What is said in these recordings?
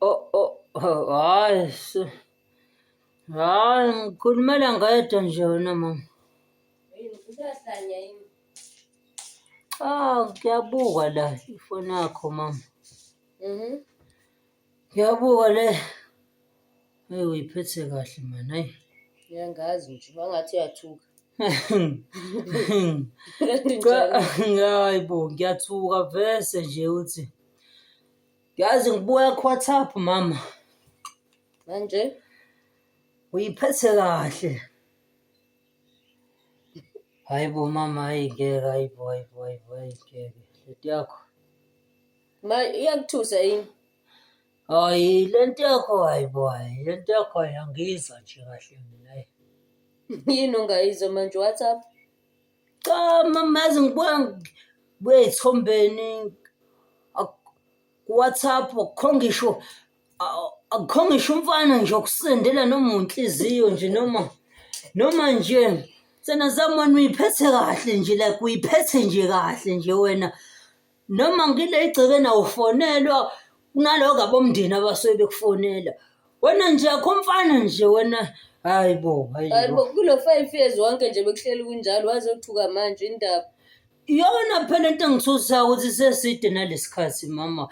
Oh, oh, oh, hayi su- hayi ngikhulumela ngedwa nje wena mama Yini, usahlanya yini? ah ngiyabuka la ifoni yakho mama Mhm. ngiyabuka le eyi uyiphethe kahle mani hayi Ngiyangazi nje, wangathi uyathuka. Kanti njalo. hayi bo ngiyathuka vese nje uthi Yazi ngibuya kuWhatsApp mama. Manje uyiphethe kahle. Hayibo mama hayi ngeke hayibo hayibo hayibo hayi ngeke lento yakho. Ma iyakuthusa yini? Hayi lento yakho hayibo hayi lento yakho ayangizwa nje kahle mina. Yini ongayizwa manje WhatsApp? cha mamazi ngibuka kuyithombeni ku-whatsapp akukho ngisho akukho ngisho umfana nje okusendela noma unhliziyo nje noma noma nje sena zamani uyiphethe kahle nje like uyiphethe nje kahle nje wena noma ngile igcekeni awufonelwa kunaloko abomndeni abasuke bekufonela wena nje akho mfana nje wena hayi bo hayi hayi bo bo kulo five years wonke nje bekuhleli kunjalo wazothuka manje indaba iyona phela into engithusayo ukuthi seside nalesikhathi mama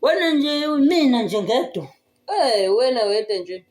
wena nje mina nje ngedwa Eh wena wedwa nje.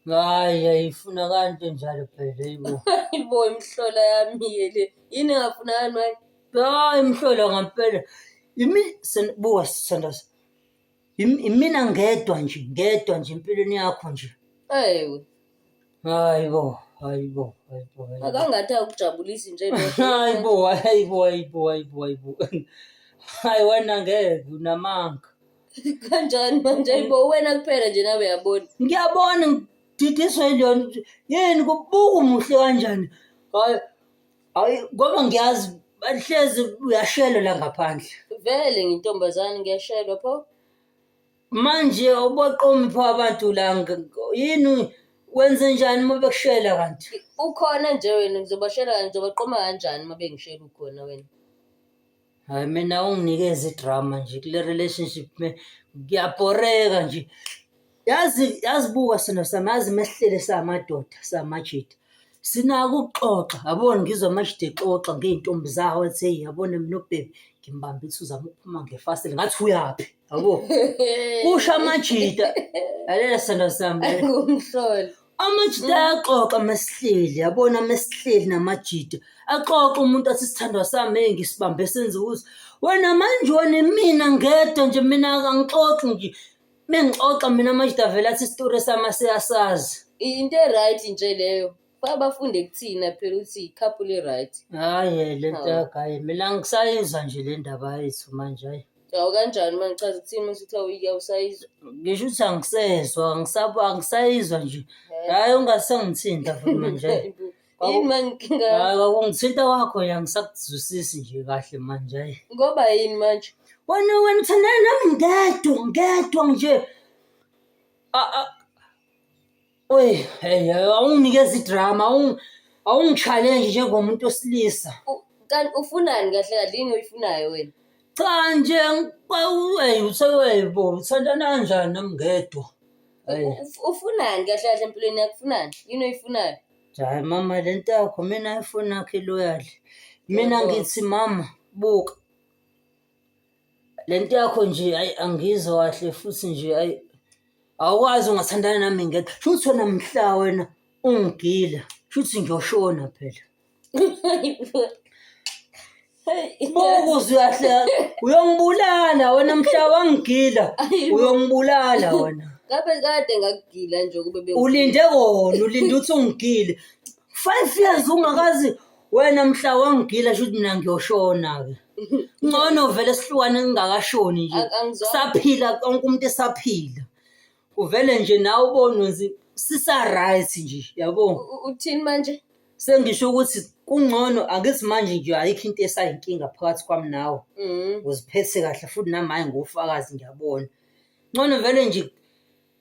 Hayi yayifuna kanto njalo phela yibo. Hayibo imhlola yami yele. Yini engafunakali manje? Hayi mhlola ngampela. Yimi sen- buka Sandas. Yim- Yimina ngedwa nje, ngedwa nje empilweni yakho nje. Ewe. Hayibo, hayibo, hayibo, hayibo. Akangathi akujabulisi nje lo. Hayibo, hayibo, hayibo, hayibo, hayibo. Hayi wena ngeke unamanga. kanjani manje ayibo wena kuphela nje nawe yabona ngiyabona ngididiswe njani yini kubuka umuhle kanjani hayi hayi ngoba ngiyazi bahlezi uyashelwa la ngaphandle vele ngintombazane ngiyashelwa pho manje ubaqomi pho abantu la nge- yini wenze njani uma bekushela kanti ukhona nje wena ngizobashela kanjani ngizobaqoma kanjani uma bengishela ukhona wena Hayi mina unginikeza idrama nje kule relationship me ngiyabhoreka nje. Yazi yazibuka sona sami yazi mehlele samadoda samajita. Sinako ukuxoxa yabona ngizwa amajita exoxa ngey'ntombi zawo athi heyi yabona mina ubhebe ngimbambe ukuthi uzama ukuphuma ngefasile ngathi uyaphi yabo. Kusho amajita. Lalela sona sami. Ngumhloli. amajita ayaxoxa mesihleli yabona mesihleli namajita axoxa umuntu athi sithandwa sami hey ngisibambe senze ukuthi wena manje wena mina ngedwa nje mina angixoxi nje mengixoxa mina amajita vele athi isitori sami asiyasazi into e-right nje leyo fa bafunde kuthina phela ukuthi i-couple e-right hhayi le nto yagaye mina ngisayizwa nje le ndaba yethu manje hhayi Awu kanjani manje chaza ukuthini uma usuthi awuyike awusayizwa. ngisho ukuthi angisezwa angisabo angisayizwa nje hhayi ungasangithinta futhi manje Yini Kwaku- manje inkinga yakho? hhayi kwakungithinta wakho nje angisakuzwisisi nje kahle manje hhayi Ngoba yini manje? wena wena uthandana nami ngedwa ngedwa nje A- a- Oy, hey, awunginikeza idrama, awung awungichallenge njengomuntu osilisa. U- Kanti ufunani kahle kahle yini oyifunayo wena? Cha nje ngikwawey usewebo uthandana kanjani nami ngedwa. Hey, Uf- Ufunani kahle kahle empilweni yakho ufunani? Yini oyifunayo? hayi mama lento yakho mina ayifuni akhe loyali. Mina Yebo. ngithi mama buka le nto yakho nje ayi angizwa kahle futhi nje ayi awukwazi ungathandana nami ngeke shuthi wena mhla wena ungigila shuthi ngiyoshona phela Bokuze uyahleka. Uyongibulala wena mhla wangigila. Uyongibulala wena. Ngabe kade ngakugila nje kube be. Ulinde kona, ulinde uthi ungigile. 5 years ungakazi wena mhla wangigila shuthi mina ngiyoshona-ke ngcono vele sihlukane ngingakashoni nje Ang- angizwa- saphila konke umuntu esaphila uvele nje nawe ubonwe nzi- sisa-right nje yabo U- uthini manje sengisho ukuthi kungcono angithi manje nje ayikho into esayinkinga phakathi kwami nawe Mm. uziphethe kahle futhi nami hayi ngofakazi ngiyabona ngcono vele nje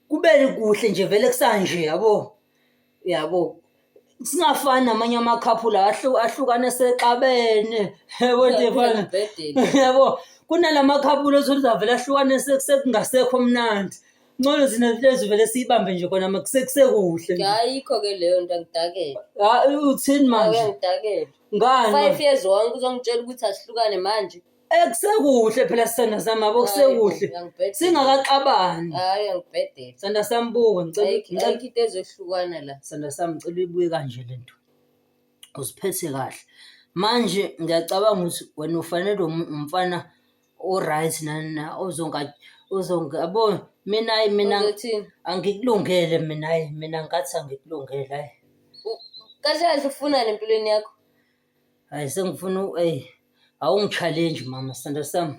Kubele kuhle nje vele kusanje yabo. Yabo. Singafani namanye amakhaphula ahlu- ahlukane sexabene. Yabo nje Uyaphila fana. embhedeni. Yabo. Kunalamakhaphula ozoza vele ahlukane se- sekungasekho mnandi. Ngcono zina lezi vele siyibambe nje kona makusekuhle. nje. Ayikho ke leyo nto angidakele. Ah, uthini Ake manje? ngidakele. Ngani? Five years wonke uzongitshela ukuthi asihlukane manje. Eh kusekuhle phela sithanda sami yabo kusekuhle. Hayi, ngangibhedela. Singakaxabani. Hayi angibhedele. Sithanda sami buka ngicela Ayikho ngicela ayikho into ezohlukana la. sanda sami ngicela uyibuye kanje lento uziphethe kahle manje ngiyacabanga ukuthi wena ufanele um- umfana o-right nani na ozonga ozonga yabo mina ayi mina Uzothini? angikulungele mina ayi mina ngathi angikulungele ayi U- Kahle kahle ufunani empilweni yakho? Hayi sengifuna u- eyi awungi-challenge mama sithando sami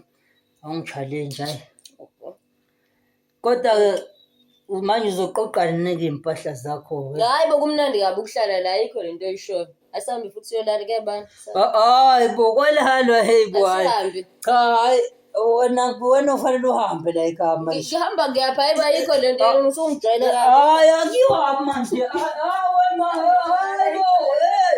awungi-challenge hayi kodwa-ke u- manje uzoqoqani neke iy'mpahla zakho-ke Hayi bokumnandi kabi ukuhlala la ayikho lento oyishoyo. Asihambe futhi siyolala kuyabani. Ah, hayi bo kwalalo heyi bo hayi Asihambe. cha hayi wena wena ufanele uhambe la ekhaya manje Ngihamba ngiyapha hayi bayikho lento Ah. yenu usungijwayele kabi. hayi akuyiwa manje Ah, ah, wena hayi bo hey